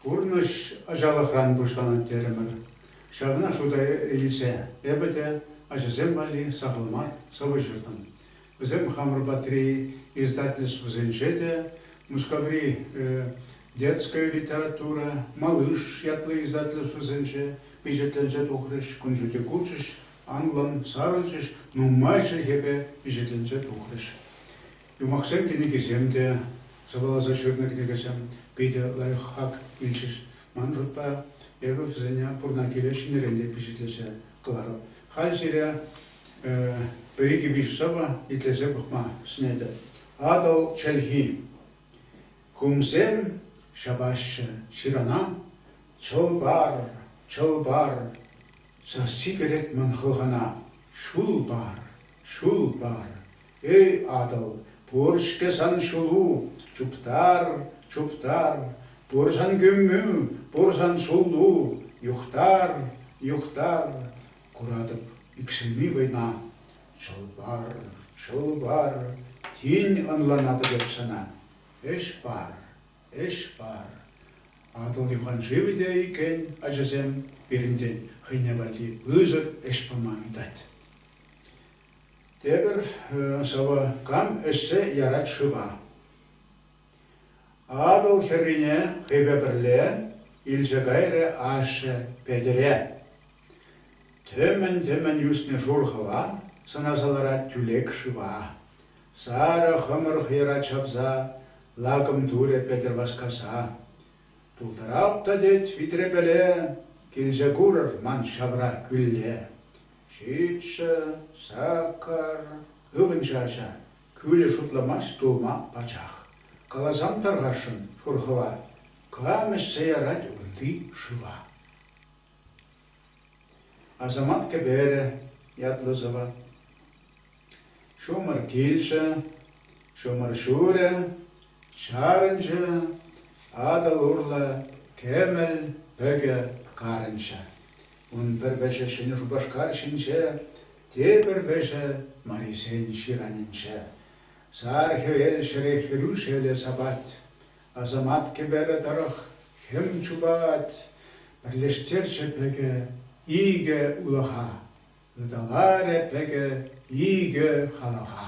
Пурнӑҫ ачалӑхран пуҫланать терӗмӗр. Ҫавна шута илсе эпӗ те ачасем валли сахал мар сӑвӑ ҫыртӑм. Вӗсем хамӑр патри издательствӑсенче те Мускаври детская литература, Малыш ятлӑ издательствӑсенче пичетленсе тухрӗҫ, кун ҫути курчӗҫ, анлӑн сарӑлчӗҫ, нумай чӗлхепе пичетленсе тухрӗҫ. Юмахсем кӗнекисем те, сӑвӑласа ҫырнӑ кӗнекесем питӗ лайӑхах илчӗҫ. Ман шутпа, эпӗ вӗсене пурна киле ҫӗнӗрен те пичетлесе кӑларӑп. Халь сире пӗр икӗ-виҫӗ сӑвӑ итлесе пӑхма сӗнетӗп. Атӑл чӗлхи. Хумсем ҫапаҫҫӗ ҫырана, чӑл парӑр, чӑл пар, Сасси кӗрет мӗн хӑлхана. Ҫул пар, ҫул пар, эй Атӑл, пур-ҫке сан ҫулу, чуптар, чуптар, пур сан кӳмӳ, пур сан суллу, юхтар, юхтар, куратӑп иксӗлми вӑйна. Чӑл пар, чӑл пар, тин ӑнланатӑп эп сана, ӗҫ пар. Ӗҫ пар. Атӑл юханшывӗ те иккен ачасем пирӗнтен хӑйне валли пысӑк ӗҫ пама ыйтать. Тепӗр сӑвӑ Кам ӗҫсе ярать шыва. Атӑл хӗррине хӑйпе пӗрле илсе кайрӗ ашшӗ Петӗре. Тӗмӗн-тӗмӗн ӳснӗ шур хӑва сӑнаса ларать тӳлек шыва. Сарӑ хӑмӑрх йӑра чавса лакӑм турӗ Петӗр васкаса. Тултарап та тет витрепеле, килсе курӑр ман ҫавра кӳлле. Ҫиччӗ, Сакӑр, ывӑнчӗ ача, кӳлӗ шутламасть тулма пачах. Каласам тархасшӑн, пур хӑва, кам ӗҫсе ярать унти шыва? Асамат кӗперӗ ятлӑ сӑвӑ. Ҫумӑр килчӗ, ҫумӑр ҫурӗ, чарӑнчӗ, Атӑл урлӑ кӗмӗл пӗкӗ карӑнчӗ. Ун пӗр вӗҫӗ Ҫӗнӗ Шупашкар ҫинче, тепӗр вӗҫӗ Марисен ҫыранӗнче. Сар хӗвел ҫӗре хӗрӳ шеле сапать. Асамат кӗперӗ тӑрӑх хӗм чупать, пӗрлештерчӗ пӗкӗ, икӗ улӑха, ыталарӗ пӗкӗ икӗ халаха.